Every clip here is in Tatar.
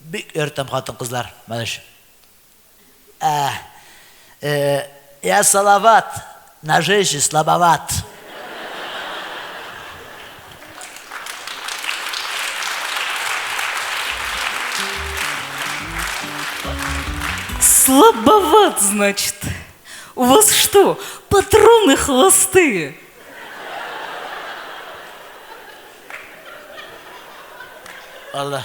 Бик яратам хатын кызлар малыш Я салават на жизнь слабоват. Слабоват, значит. У вас что, патроны холостые? Аллах.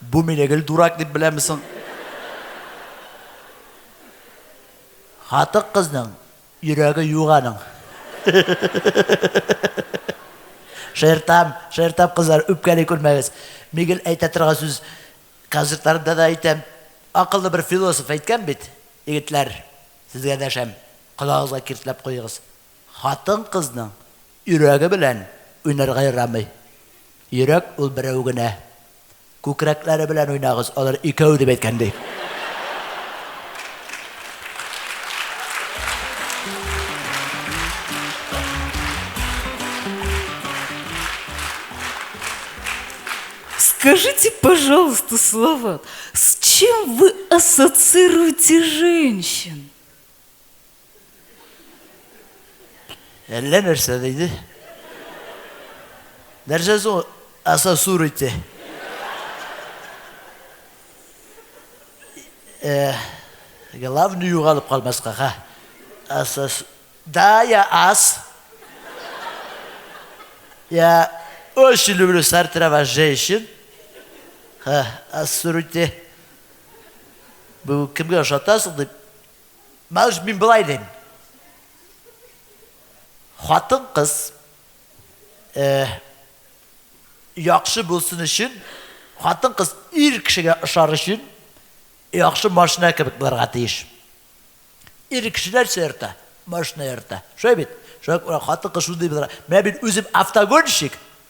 Бу мине гел дурак дип беләме соң? Хатык кызның йөрәге юк аның. Шертам, шертам кызлар, үпкәли күрмәгез. Мигел әйтә торган сүз концертларында да әйтәм. Акыллы бер философ әйткән бит, егетләр, сезгә дәшәм, колагыгызга киртләп куегыз. Хатын-кызның йөрәге белән уйнарга ярамый. Йөрәк ул берәү генә. Күкрәкләре белән уйнагыз, алар икәү дип әйткән ди. Скажите, пожалуйста, Салават, с чем вы ассоциируете женщин? Әллә нәрсә диде. Нәрсә соң аса сур ите? Э, главный югалып калмаска, ха. Аса Да, я ас. Я очень люблю сартровать женщин. Ха, ас сур ите. Бу кемгә ошатасың дип Мәш мин былай дим. Хатын кыз э, яхшы булсын өчен, хатын кыз ир кешегә ошар өчен яхшы машина кебек булырга тиеш. Ир кешеләр сөртә, машина йөртә. Шулай бит? Шулай хатын кыз шундый булырга. Менә мин үзем автогонщик.